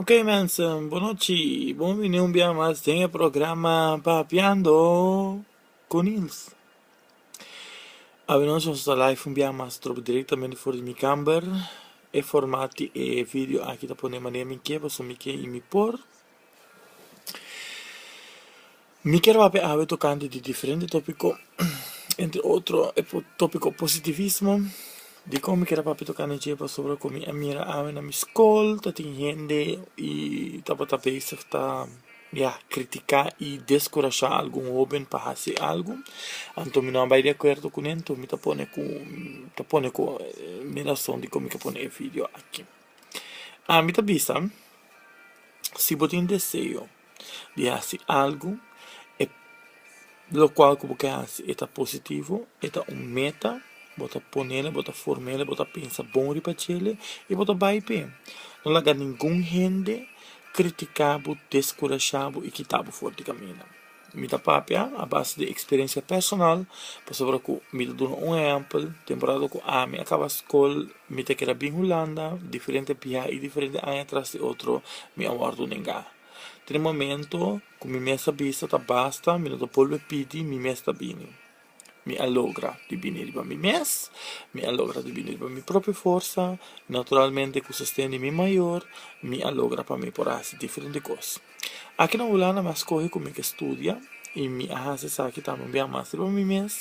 Ok mensen, bonochi y bon bini un bia mas den e programa Papiando cu Niels. Awinòs nos ta live un bia mas trob directamente for di mi camber. E format di e video aki ta pone manera mi ke, pasobra mi ke y mi por. Mi kier papia awe tocante di diferente topico, entre otro e topico positivismo, di con mi kier a papia tocante dje pasobra cu mi a mira awe na mi scol ta tin hende y tabata bezig ta ya critica y descurasha algun hoben pa haci algo, anto mi no a bay di acuerdo cu nan, anto mi ta pone cu mi ta pone cu mi rason di con mi ta pone e video aki. Ami ta bisa, si bo tin deseo di hasi algu e lokual ku bo ke hasi e ta positivo, e ta un meta, bo ta ponel, bo ta formel, bo ta pensa bon riba djele i bo ta bai p'e. No laga ningun hende kritika bo, deskurashá bo i kita bo for di kaminda. Mi ta papia a base di experiencia personal pasobra cu mi ta duna un ehempel, temporada cu ami a caba scol mi ta keda bin Hulanda, diferente biaha y diferente aña tras di otro mi a wordo nenga. Tin e momento cu mi mes ta bisa ta basta, mi no ta bolbe pidi, mi mes ta bini. Mi a logra di bini riba mi mes, mi a logra di bini riba mi propio forsa, naturalmente ku sosten di mi mayor mi a logra pa mi por hasi diferente kos. Aki na Hulanda mi a skohe ku mi ke studia i mi a hasi esaki tambe un biaha mas riba mi mes,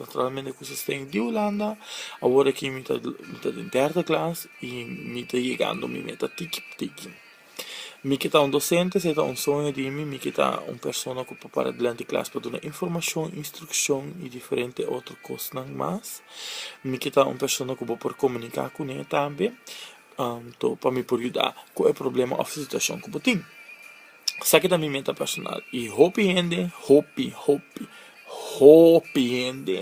naturalmente ku sosten di Hulanda, awor aki mi ta den derde klas i mi ta yegando mi meta tiki por tiki. Mi ke ta un dosente, esei ta un soño di mi, mi ke ta un persona ku por para dilanti klas pa duna informashon, instrukshon i diferente otro kosnan mas, mi ke ta un persona ku bo por komuniká kuné tambe, to pa mi por yuda ku e problema òf situashon ku bo tin, sa ke ta mi meta personal i hopi hende, hopi hopi hopi hende.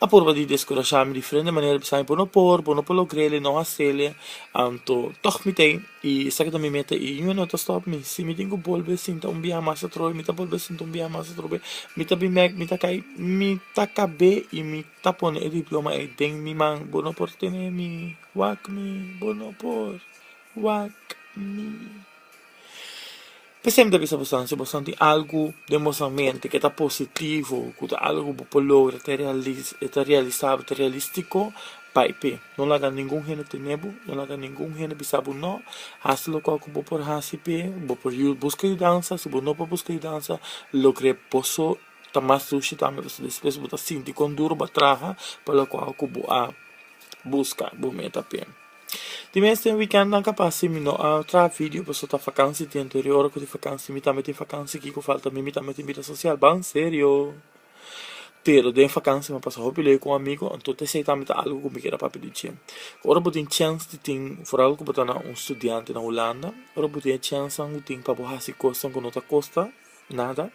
a purba di deskurashami di frente manera bisami por no por por no por lo grele no hasele anto tog mi ta y esaki ta mi meta y niun no ta stop mi si mi tin cu bolbe sinta un biaha mas atrobe mi ta bolbe sinta un biaha mas atrobe mi ta bin bek mi ta cay mi ta cabe y mi ta pone e diploma ey den mi man bo no por tene mi wak mi bo no por wak mi Bo siempre ta bisa boso si boso tin algu den boso mente ke ta positivo ku ta algu ku bo por logra e ta realisabo e ta realistico bai p'e no laga ningun hende tene bo no laga ningun hende bisa bo no hasi loke ku bo por hasi p'e bo por buska yudansa si bo no por buska yudansa logr'e boso ta mas dushi tambe pasobra despues bo ta sinti kon duro bo a traha pa loke ku bo a buska bo meta p'e. Tin mes den weekend nan capaz si mi no a traha video pasobra ta vakantie tiempo pero e ora cu tin vakantie mi tambe tin vakantie kico falta mi mi tambe tin bida social ban serio pero den vakantie mi a pasa hopi ley cu amigo entonces esey tambe ta algo cu mi keda papia di dje cu ora bo tin chance di tin foral cu bo ta na un studiante na hulanda ora bo tin e chancenan cu tin pa bo haci cosnan cu no ta costa nada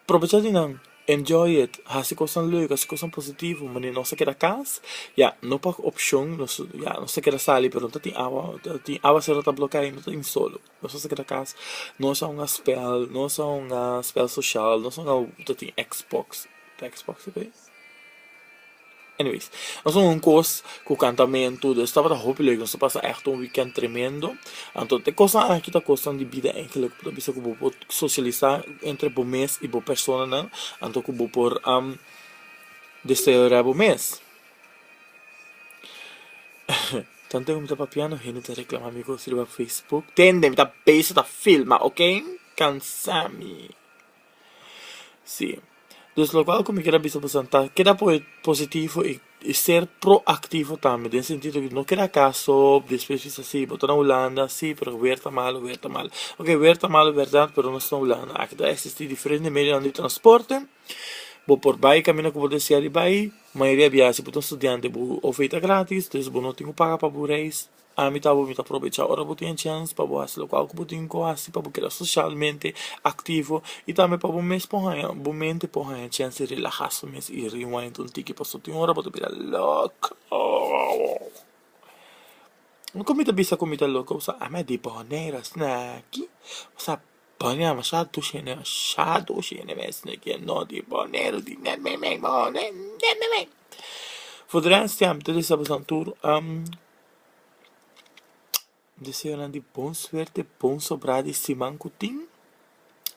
provecha di nan. Enjoy it, hasi cosnan leuk, hasi cosnan positivo, manera nos ta keda cas, ya, no pa opcion, nos, ya, nos ta keda sali pero no ta tin awa, ta tin awa si no ta bloca y no ta tin solo, nos no sa keda cas, nos a hunga spel, nos a hunga spel social, nos a hunga, ta tin Xbox, ta Xbox esa cu es? Anyways, nos a un kos ku kantamentu, dus tabata hopi lek, nos a pasa ègt un wikènt tremendo. Anto e kosnan aki ta kosnan di bida enkele ku ta bisa ku bo por sosialisá entre bo mes i bo personanan, anto ku bo por desterorá bo mes. Tantu mi ta papiando hende ta reklamá mi kos riba facebook, tende mi ta bes ta filma, oke, kansá mi. Si. Dus lokual ku mi keda bisa bo san ta keda positivo i ser proaktivo tambe den sentido ku no keda kaso despues bisa si bo ta na hulanda si pero wer ta malo wer ta malo oke wer ta malo berdad pero nos ta na hulanda aki ta existi diferente medionan di transporte bo por bai kaminda ku bo deseari bai mayoria biaha si bo ta un studiante bo ofita gratis entonces bo no tin ku paga pa bo reis. Ami ta bo mi ta probecha ora bo tin chèns pa bo hasi lokual ku bo tin ku hasi pa bo keda soshalmente aktivo i tambe pa bo mes por haña bo mente por haña chèns di relahá su mes i rewind un tiki pasobra tin ora bo ta bira loko. Oko mi ta bisa ku mi ta loko pasobra ami a depòne e rastina aki pasobra a pone masha dushi hende masha dushi hende mes no ke no depòne e rastina aki for de rèst ja mi ta desha boso tur. Deseo nan di bon suerte, bon sobra di siman ku tin.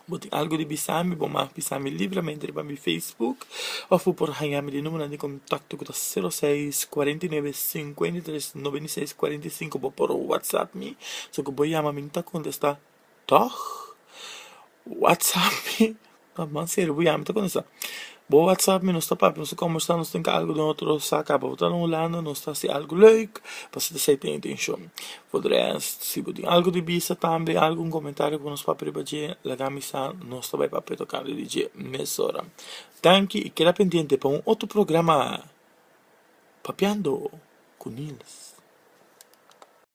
Bo tin algu di bisa mi bo mag bisa mi libramente riba mi Facebook òf bo por haña mi di numeronan di kontakto ku ta sero seis kuarenta i nuebe sinkuenta i tres noventa i seis kuarenta i sinku bo por whatsapp mi so ku bo yama mi no ta kontestá. Tòg, whatsapp mi ta mas sirbi ya mi ta cuminsa bo whatsapp mi nos ta papia nos ta combersa nos tin algo den otro sa caba bo ta den hulanda nos ta haci algo leuk pasobra esey ta e intencion for the rest si bo tin algo di bisa tambe algun comentario cu bo nos papia riba dje lagami sa nos ta bay papia tocante di dje mesora tanki y keda pendiente pa un otro programa Papiando cu Niels.